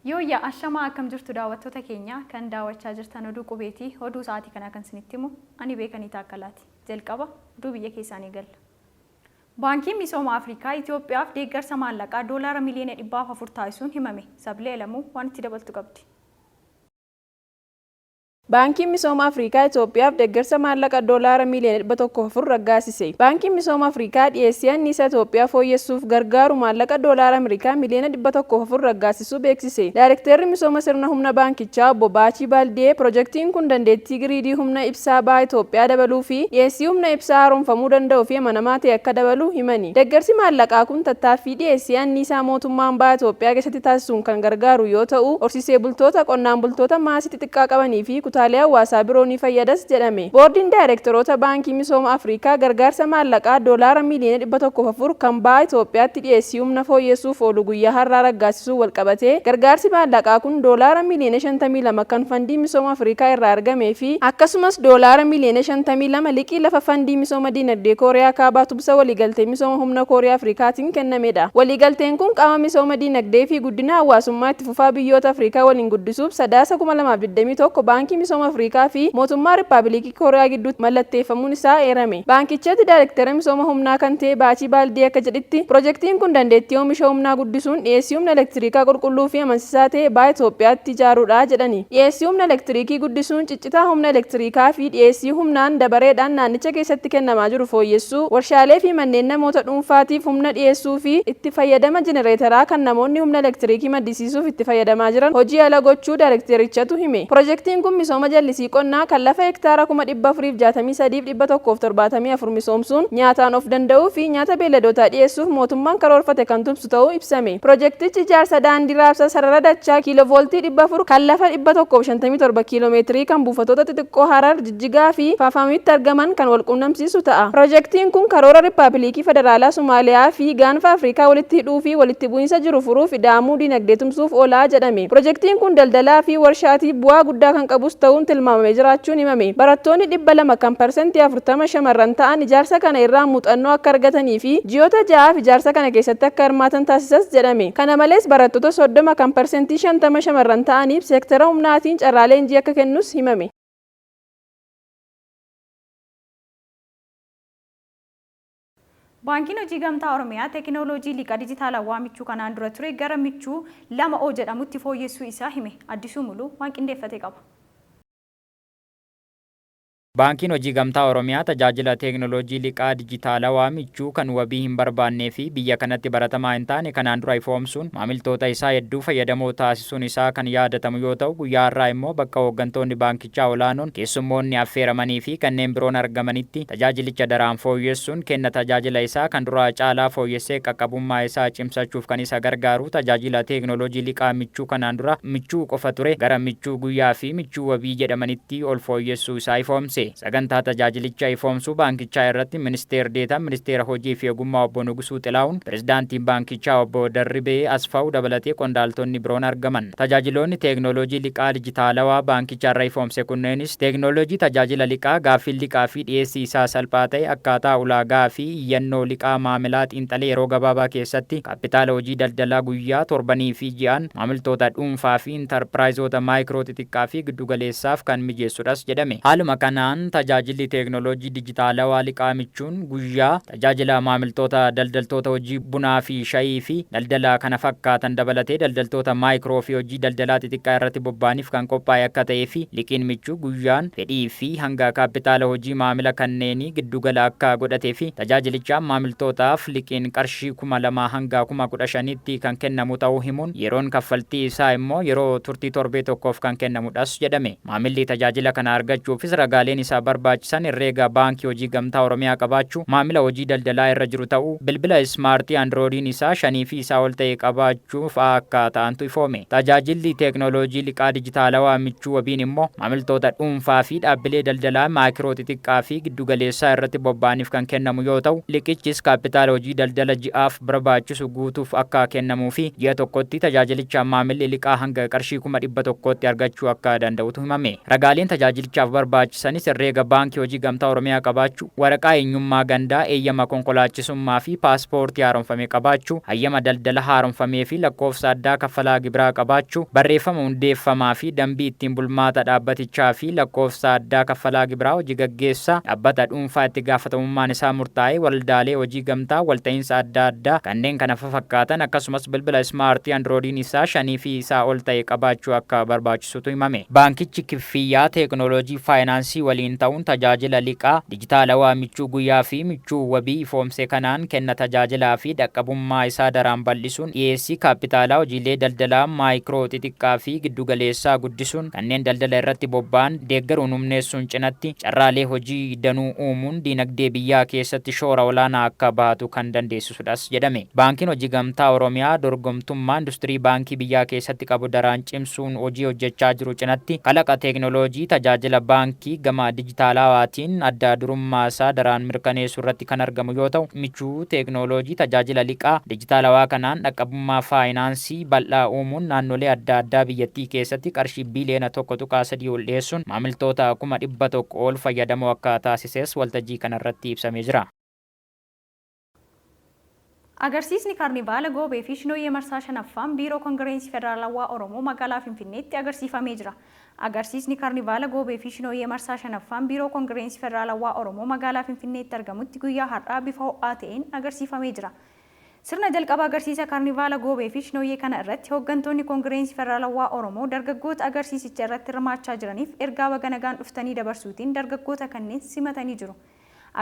Yooyya ashamaa akkam jirtu daawwattoota keenya kan daawwachaa jirtan oduu qubeeti oduu sa'aatii kanaa kan isinitti himu ani beekanii taakkalaati jalqaba oduu biyya keessaanii galla. Baankiin misooma Afrikaa Itoophiyaaf deeggarsa maallaqaa doolaara miliyoona dhibbaaf afur taasisuun himame Sablee Alamuu waan itti dabaltu qabdi. Baankiin Misooma Afrikaa Itoophiyaaf deeggarsa maallaqa Doolaara miiliyoona 104 raggaasise. Baankiin Misooma Afrikaa dhiyeessii anniisaa Itoophiyaa fooyyessuuf gargaaru maallaqa Doolaara Amerikaa miiliyoona 104 raggaasisuu beeksise. Daarekteerri Misooma Sirna Humna Baankichaa Obbo Baachii Baaldiyee pirojektiin kun dandeettii giriidii humna ibsaa baha Itoophiyaa dabaluu fi dhiyeessii humna ibsaa haaromfamuu danda'u fi amanamaa ta'e akka dabalu himani. Deeggarsi maallaqaa kun tattaaffii dhiyeessii anniisaa mootummaan baha Itoophiyaa keessatti taasisuun kan gargaaru yoo ta'u, horsiisee bultoota, qonnaan bultoota maasii xixiqqaa qabanii fi kutaalee hawaasaa biroo ni fayyadas jedhame. Boordiin Daayreektaroota Baankii Misooma Afrikaa gargaarsa maallaqaa Doolaara miiliyoona 104 kan Baha Itoophiyaatti dhiyeessii humna fooyyessuuf oolu guyyaa har'aa raggaasisuun walqabatee gargaarsi maallaqaa kun Doolaara miiliyoona 52 kan Fandii Misooma Afrikaa irraa argamee fi akkasumas Doolaara miiliyoona 52 liqii lafa Fandii Misooma Diinagdee Kooriyaa Kaabaa Tubsa Waliigaltee Misooma Humna Kooriyaa Afrikaatiin kennamedha. Waliigalteen kun qaama misooma diinagdee fi guddina hawaasummaa itti fufaa biyyoota Afrikaa waliin guddisuuf Sadaasa 2021 Baankii Misooma Afrikaa fi Mootummaa Rippaabilikii Kooriyaa gidduutti mallatteeffamuun isaa eerame. Baankichatti Daarektera Misooma Humnaa kan ta'e Baachii Baaldii akka jedhitti, pirojektiin kun dandeettii oomisha humnaa guddisuun dhiyeessii humna elektiriikaa qulqulluu fi amansisaa ta'e baha Itoophiyaatti ijaaruudha jedhani. Dhiyeessii humna elektiriikii guddisuun Cita humna elektiriikaa fi dhiyeessii humnaan dabareedhaan naannicha keessatti kennamaa jiru fooyyessuu, warshaalee fi manneen namoota dhuunfaatiif humna dhiyeessuu fi itti fayyadama jenereetaraa kan namoonni humna elektiriikii maddisiisuuf itti fayyadamaa jiran hojii ala gochuu daarekteerichatu hime. Pirojektiin kun misooma jallisii qonnaa kan lafa hektaara kuma 463 fi 174 misoomsuun nyaataan of danda'uu fi nyaata beelladootaa dhiyeessuuf mootummaan karoorfate kan tumsu, taasisu ta'uu ibsame. Pirojektichi ijaarsa daandii raabsa sarara dachaa kiilovooltii 400 kan lafa 157 kiilomeetirii kan buufatoota xixiqqoo Harar, Jijjigaa fi Faafamitti argaman kan walquunnamsiisu ta'a. Pirojektiin kun karoora Rippaabiliikii Federaalaa Somaaliyaa fi Gaanfa Afrikaa walitti hidhuu fi walitti bu'iinsa jiru furuuf ida'amuu diinagdee tumsuuf oola jedhame. Pirojektiin kun daldalaa fi warshaatiif bu'aa guddaa kan qabus ta'uun tilmaamamee jiraachuun himame. Barattoonni 200 kan %40. 40 shamarran ta'an ijaarsa kana irraa muuxannoo akka argatanii fi ji'oota ja'aaf ijaarsa kana keessatti akka hirmaatan taasisas jedhame. Kana malees barattoota 30 kan parsentii 50 shamarran ta'aniif seektara humnaatiin carraa leenjii akka kennus himame. Baankiin Hojii Gamtaa Oromiyaa teekinooloojii liqaa dijitaalawaa michuu kanaan dura ture gara michuu 2O jedhamutti fooyyessuu isaa hime. Addisuu Muluu waan qindeeffate qaba. Baankiin Hojii Gamtaa Oromiyaa tajaajila teeknooloojii liqaa dijitaalawaa michuu kan wabii hin barbaannee fi biyya kanatti baratamaa hin taane kanaan dura ifoomsuun maamiltoota isaa hedduu fayyadamoo taasisuun isaa kan yaadatamu yoo ta'u guyyaa har'aa immoo bakka hooggantoonni baankichaa olaanoon, keessummoonni affeeramanii fi kanneen biroon argamanitti tajaajilicha daraan fooyyessuun kenna tajaajila isaa kan duraa caalaa fooyyessee qaqqabummaa isaa cimsachuuf kan isa gargaaru tajaajila teeknooloojii liqaa michuu kanaan dura michuu qofa ture gara michuu guyyaa fi michuu wabii jedhamanitti tti ol fooyyessuu isaa ifoomse. Sagantaa tajaajilicha ifoomsuu baankichaa irratti Ministeer Deetaan Ministeera Hojii fi Ogummaa Obbo Nugusuu Xilaahun, Pirezidaantiin Baankichaa Obbo Darribee Asfaaw dabalatee qondaaltonni biroon argaman. Tajaajiloonni teeknooloojii liqaa dijitaalawaa baankichi har'a ifoomse kunneenis teeknooloojii tajaajila liqaa, gaaffiin liqaa fi dhiyeessii isaa salphaa ta'e, akkaataa ulaagaa fi iyyannoo liqaa maamilaa xiinxalee yeroo gabaabaa keessatti kaappitaala hojii daldalaa guyyaa, torbanii fi ji'aan maamiltoota dhuunfaa fi. intarpiraayizoota maayikroo xixiqqaa fi giddu galeessaaf kan mijeessudhas jedhame. Haaluma kanaan tajaajilli teeknooloojii dijitaalawaa liqaa michuun guyyaa, tajaajila maamiltoota daldaltoota hojii bunaa fi shayii fi daldala kana fakkaatan dabalatee daldaltoota maayikroo fi hojii daldalaa xixiqqaa irratti bobba'aniif kan qophaa'e akka ta'ee fi liqiin michuu guyyaan fedhii fi hanga kaappitaala hojii maamila kanneenii giddugala akka godhate fi tajaajilichaan maamiltootaaf liqiin qarshii kuma lamaa hanga kuma kudha shaniitti kan kennamu ta'uu himuun, yeroon kaffaltii isaa immoo yeroo turtii torbee tokkoof kan kennamu dhas jedhame. Maamilli tajaajila kana argachuufis ragaaleen isa barbaachisan herreega Baankii Hojii Gamtaa Oromiyaa qabaachuu, maamila hojii daldalaa irra jiru ta'uu, bilbila ismaartii andiroodiin isaa shanii fi isaa ol ta'e qabaachuu, michuu fa'aa akka ta'antu ifoome. Tajaajilli teeknooloojii liqaa dijitaalawaa michuu wabiin immoo maamiltoota dhuunfaa fi dhaabbilee daldalaa maakiroo xixiqqaa fi giddu galeessaa irratti bobba'aniif kan kennamu yoo ta'u, liqichis kaappitaala hojii daldala ji'aaf barbaachisu guutuuf akka kennamuu fi ji'a tokkotti tajaajilichaan maamilli liqaa hanga qarshii 100,000tti argachuu akka danda'utu himame. Ragaaleen tajaajilichaaf barbaachisanis herreega Baankii Hojii Gamtaa Oromiyaa qabaachuu, Waraqaa eenyummaa gandaa, eeyyama konkolaachisummaa fi paaspoortii haaromfame qabaachuu, hayyama daldala haaromfamee fi lakkoofsa addaa kaffalaa gibiraa qabaachuu, barreeffama hundeeffamaa fi dambii ittiin bulmaata dhaabbatichaa fi lakkoofsa addaa kaffalaa gibiraa hojii gaggeessaa dhabbata dhuunfaa itti gaafatamummaan isaa murtaa'ee, waldaalee hojii gamtaa, walta'iinsa adda addaa, kanneen kana fafakkaatan, akkasumas bilbila ismaartii andiroodiin isaa shanii fi isaa ol ta'e qabaachuu akka barbaachisutu himame. Baankichi. fiyyaa teeknooloojii faayinaansii waliin ta'uun tajaajila liqaa dijitaalawaa michuu guyyaa fi michuu wabii ifoomse kanaan kenna tajaajilaa fi dhaqqabummaa isaa daraan bal'isuun dhiyeessii kaappitaalaa hojiilee daldalaa maayikiroo, xixiqqaa fi giddu galeessaa guddisuun kanneen daldala irratti bobba'an deeggaruun humneessuun cinatti carraalee hojii danuu uumuun diinagdee biyyaa keessatti shoora olaanaa akka bahatu kan dandeessisuudha. taasisudhas jedhame. Baankiin Hojii Gamtaa Oromiyaa dorgomtummaa industirii baankii biyyaa keessatti qabu daraan cimsuun hojii hojjechaa jiru cinatti kalaqa teeknooloojii tajaajila baankii gama dijitaalawaatiin adda durummaasaa daraan mirkaneessuurratti kan argamu yoo ta'u, michuu teeknooloojii tajaajila liqaa dijitaalawaa kanaan dhaqqabummaa faayinaansii bal'aa uumuun naannolee adda addaa biyyattii keessatti qarshii biiliyoona 1.3 ol dhiyeessuun maamiltoota kuma 100 ol fayyadamoo akka taasises waltajjii kanarratti ibsamee jira. Agarsiisni Kaarnivaala Goobee fi Shinooyyee Marsaa 5ffaan Biiroo Kongireensi Federaalawaa Oromoo Magaalaa Finfinneetti agarsiifamee jira Agarsiisni Kaarnivaala Goobee fi Shinooyyee Marsaa 5ffaan Biiroo Kongireensi Federaalawaa Oromoo Magaalaa Finfinneetti argamutti guyyaa har'aa bifa ho'aa ta'een agarsiifamee jira Sirna jalqaba agarsiisa Kaarnivaala Goobee fi Shinooyyee kana irratti hooggantoonni Kongireensi Federaalawaa Oromoo dargaggoota agarsiisicha irratti hirmaachaa jiraniif ergaa baga nagaan dhuftanii dabarsuutiin dargaggoota kanneen simatanii jiru.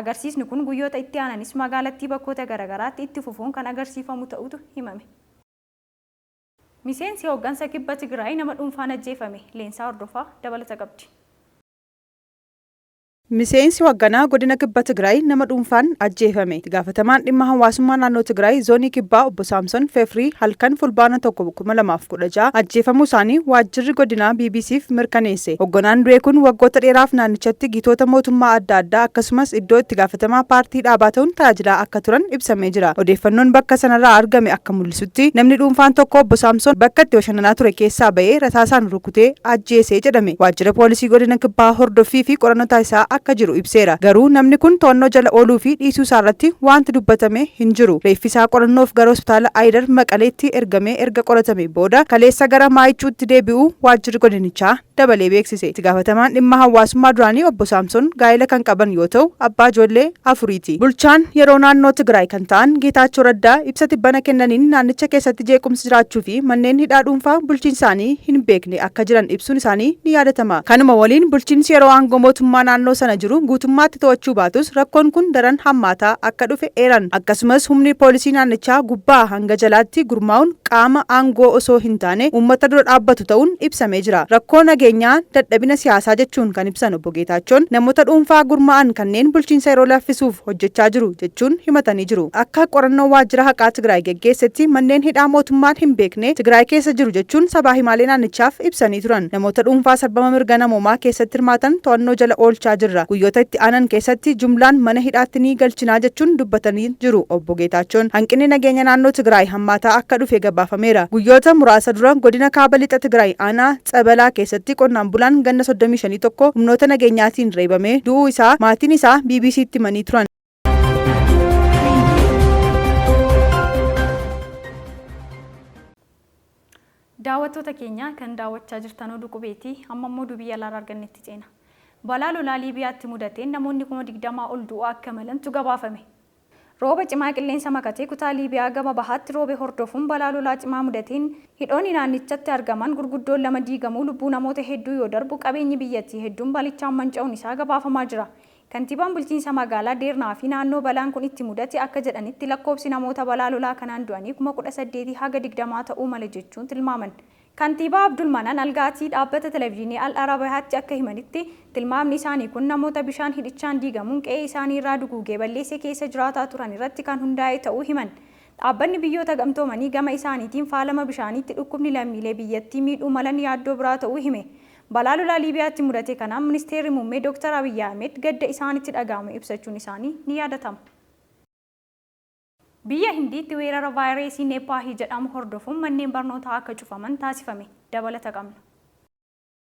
Agarsiisni kun guyyoota itti aananis magaalattii bakkoota garagaraatti itti fufuun kan agarsiifamu ta'utu himame. Miseensi hooggansa Kibba Tigraay nama dhuunfaan ajjeefame, Leensaa Hordofaa dabalata qabdi. Miseensi hoagganaa godina Kibba Tigraay nama dhuunfaan ajjeefame. Itti gaafatamaan dhimma hawaasummaa naannoo Tigraay zoonii Kibbaa obbo Saamson Fefrii halkan Fulbaana 1, 2010 16 ajjeefamuu isaanii waajjirri godinaa BBC'f mirkaneesse. Hogganaan du'e kun waggoota dheeraaf naannichatti gitoota mootummaa adda addaa akkasumas iddoo itti gaafatamaa paartii dhaabaa ta'uun tajaajilaa akka turan ibsamee jira. Odeeffannoon bakka sanarraa argame akka mul'isutti namni dhuunfaan tokko Obbo Saamsoon bakka itti bashannanaa ture keessaa ba'ee rasaasaan rukutee ajjeese jedhame. Waajjira poolisii godina kibbaa hordoffii fi qorannoo taasisaa akka jiru ibseera. Garuu namni kun to'annoo jala ooluu fi dhiisuu isaarratti waanti dubbatame hin jiru. Reeffi isaa qorannoof gara hospitaala Ayidar Maqaleetti ergamee. erga qoratamee booda kaleessa gara Maayicuutti deebi'uu waajjirri godinichaa dabalee beeksise. Itti gaafatamaan dhimma hawaasummaa duraanii Obbo Saamson gaa'ela kan qaban yoo ta'u, abbaa ijoollee afuriiti. Bulchaan yeroo naannoo Tigraay kan ta'an Geetaachoo Raddaa ibsa tibbana kennaniin naannicha keessatti jeequmsi jiraachuu fi manneen hidhaa dhuunfaa bulchiinsi isaanii hin beekne akka jiran ibsuun isaanii ni yaadatama. Kanuma waliin bulchiinsi yeroo aangoo mootummaa naannoo sana jiru guutummaatti to'achuu baatus rakkoon kun daran hammaataa akka dhufe eeran. Akkasumas humni poolisii naannichaa gubbaa hanga jalaatti gurmaa'uun qaama aangoo osoo hin taane uummata dura dhaabbatu ta'uun ibsamee jira. Rakkoo nageenyaa, dadhabina siyaasaa jechuun kan ibsan Obbo Geetaachoon, namoota dhuunfaa gurmaa'an kanneen bulchiinsa yeroo laffisuuf hojjechaa jiru jechuun himatanii jiru. Akka qorannoo waajjira haqaa Tigraay geggeessetti manneen hidhaa mootummaan hin beekne Tigraay keessa jiru jechuun sabaa himaalee naannichaaf ibsanii turan. Namoota dhuunfaa sarbama mirga namoomaa keessatti hirmaatan to'annoo jala oolchaa jirra, guyyoota itti aanan keessatti jumlaan mana hidhaatti ni galchinaa jechuun dubbatanii jiru Obbo Geetaachoon, hanqinni nageenya naannoo Tigraay hammaataa akka dhufe gabaafameera. Guyyoota muraasa dura godina Kaaba Lixa Tigraay aanaa Tsabalaa keessatti qonnaan bulaan ganna 35 tokko humnoota nageenyaatiin reebamee du'uu isaa maatiin isaa BBC'tti himanii turan. Daawwattoota keenya kan daawwachaa jirtan oduu qubeeti. Amma immoo oduu biyya alaarraa argannetti ceena. Balaa lolaa Liibiyaatti mudateen namoonni kuma 20 ol du'uu akka malantu gabaafame. Rooba cimaa qilleensa makatee kutaa Liibiyaa gama bahaatti roobe hordofuun balaa lolaa cimaa mudateen hidhoonni naannichatti argaman gurguddoon lama diigamuu lubbuu namoota hedduu yoo darbu qabeenyi biyyattii hedduun balichaan manca'uun isaa gabaafamaa jira. Kantiibaan Bulchiinsa Magaalaa Deernaa fi naannoo balaan kun itti mudate akka jedhanitti lakkoofsi namoota balaa lolaa kanaan du'anii 18,000 haga 20 ta'uu mala jechuun tilmaaman. Kantiibaa Abdulmanan Algaatii dhaabbata Televizyinii Al Arabayaatti akka himanitti, tilmaamni isaanii kun namoota bishaan hidhichaan diigamuun qe'ee isaanii irraa duguugee balleesse keessa jiraataa turan irratti kan hundaa'e ta'uu himan. Dhaabbanni Biyyoota Gamtoomanii gama isaaniitiin faalama bishaaniitti dhukkubni lammiilee biyyattii miidhuu malan yaaddoo biraa ta'uu hime. Balaa lolaa Liibiyaatti mudate kanaan Ministeerri Muummee Dooktar Abiyyi Ahimed gadda isaanitti dhaga'amu ibsachuun isaanii ni yaadatama. Biyya Hindiitti weerara vaayireesii Neeppaahi jedhamu hordofuun manneen barnootaa akka cufaman taasifame. Dabalata qabna.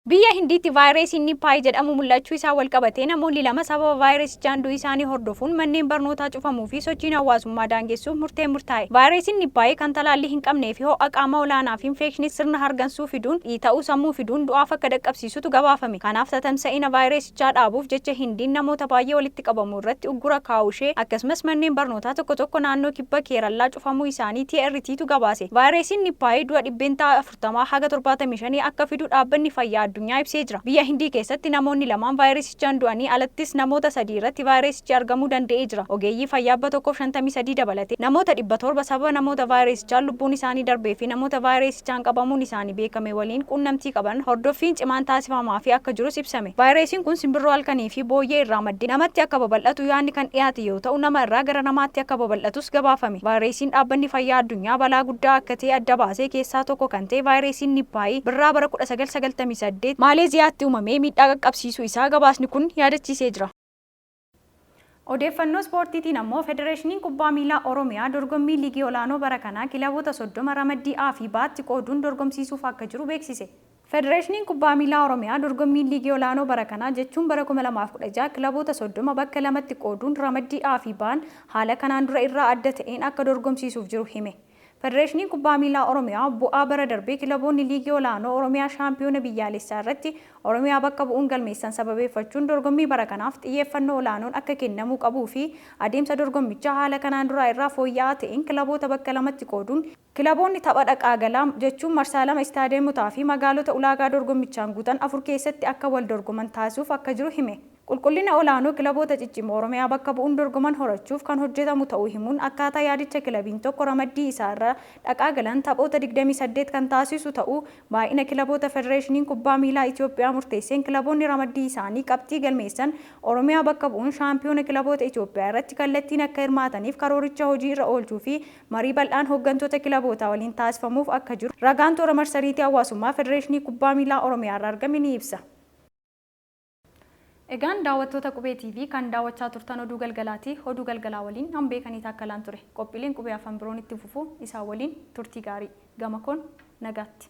Biyya Hindiitti vaayireesiin Nippaahi jedhamu mul'achuu isaan walqabatee namoonni lama sababa vaayireesichaan du'u isaanii hordofuun manneen barnootaa cufamuu fi sochiin hawaasummaa daangessuuf murteen murtaa'e. Vaayireesiin Nippaahi kan talaallii hin qabnee fi ho'a qaamaa olaanaa fi infeekshinii sirna hargansuu, xixiqqoo fiduun, dhiita'uu sammuu fiduun du'aaf akka dhaqqabsiisutu gabaafame. Kanaaf tatamsa'ina vaayirasichaa dhaabuuf jecha Hindiin namoota baay'ee walitti qabamuu irratti uggura kaa'uu ishee akkasumas manneen barnootaa tokko tokko naannoo kibba Keerallaa cufamuu isaanii TRT tu gabaase. Vaayirasiin Nippaayii du'a dhibbeentaa 40 haga 75 akka fidu Dhaabbanni Fayyaa Addunyaa ibsee jira. Biyya Hindii keessatti namoonni lamaan vaayirasicha. Ajjeechaan du'anii alattis namoota 3 irratti vaayiresichi argamuu danda'ee jira. Ogeeyyii fayyaa 153 dabalatee namoota 700 sababa namoota vaayireesichaan lubbuun isaanii darbee fi namoota vaayireesichaan qabamuun isaanii beekame waliin quunnamtii qaban hordoffiin cimaan taasifamaafii akka jirus ibsame. Vaayireesiin kun simbirroo halkanii fi booyyee irraa maddee namatti akka babal'atu yaadni kan dhiyaate yoo ta'u, nama irraa gara namaatti akka babal'atus gabaafame. Vaayireesiin Dhaabbanni Fayyaa Addunyaa balaa guddaa akka ta'e adda baasee keessaa tokko kan ta'e vaayireesiin Nippaayii birraa bara 1998 Maaleeziyaatti uumamee miidhaa qaqqabsiise. barbaachisuu isaa gabaasni kun yaadachiisee jira. Odeeffannoo Ispoortiitiin ammoo Federeeshiniin Kubbaa Miilaa Oromiyaa dorgommii Liigii Olaanoo bara kanaa kilaboota 30 ramaddii A fi B'tti qooduun dorgomsiisuuf akka jiru beeksise. Federeeshiniin Kubbaa Miilaa Oromiyaa dorgommiin Liigii Olaanoo bara kanaa jechuun bara 2016 kilaboota 30 bakka lamatti qooduun ramaddii A fi B'n haala kanaan dura irraa adda ta'een akka dorgomsiisuuf jiru hime. Federeeshiniin Kubbaa Miilaa Oromiyaa bu'aa bara darbe kilaboonni Liigii Olaanoo Oromiyaa Shaampiyoona Biyyaalessaa irratti Oromiyaa bakka bu'uun galmeessan sababeeffachuun dorgommii bara kanaaf xiyyeeffannoo olaanoon akka kennamuu qabuu fi adeemsa dorgommichaa haala kanaan duraa irraa fooyya'aa ta'een kilaboota bakka lamatti qooduun kilaboonni tapha dhaqaa galaa jechuun marsaa lama istaadiyeemotaa fi magaalota ulaagaa dorgommichaan guutan afur keessatti akka wal dorgoman taasisuuf akka jiru hime. Qulqullina olaanoo kilaboota ciccimoo Oromiyaa bakka bu'uun dorgoman horachuuf kan hojjetamu ta'uu himuun, akkaataa yaadicha kilabiin tokko ramaddii isaa irra dhaqaa galan taphoota digdamii saddeet kan taasisu ta'uu, baay'ina kilaboota Federeeshiniin Kubbaa Miilaa Itoophiyaa murteesseen kilaboonni ramaddii isaanii qabxii galmeessan Oromiyaa bakka bu'uun shaampiyoona kilaboota Itoophiyaa irratti kallattiin akka hirmaataniif karooricha hojii irra oolchuu fi marii bal'aan hoggantoota kilabootaa waliin taasifamuuf akka jiru ragaan toora marsariitii hawaasummaa Federeeshinii Kubbaa Miilaa Oromiyaa irraa argame ni ibsa. Egaan daawwattoota Qubee TV kan daawwachaa turtan oduu galgalaati. Oduu galgalaa waliin an Beekanii Taakkalaan ture. Qophiileen Qubee Afan biroon itti fufu isaan waliin turtii gaarii. Gama koon nagaatti.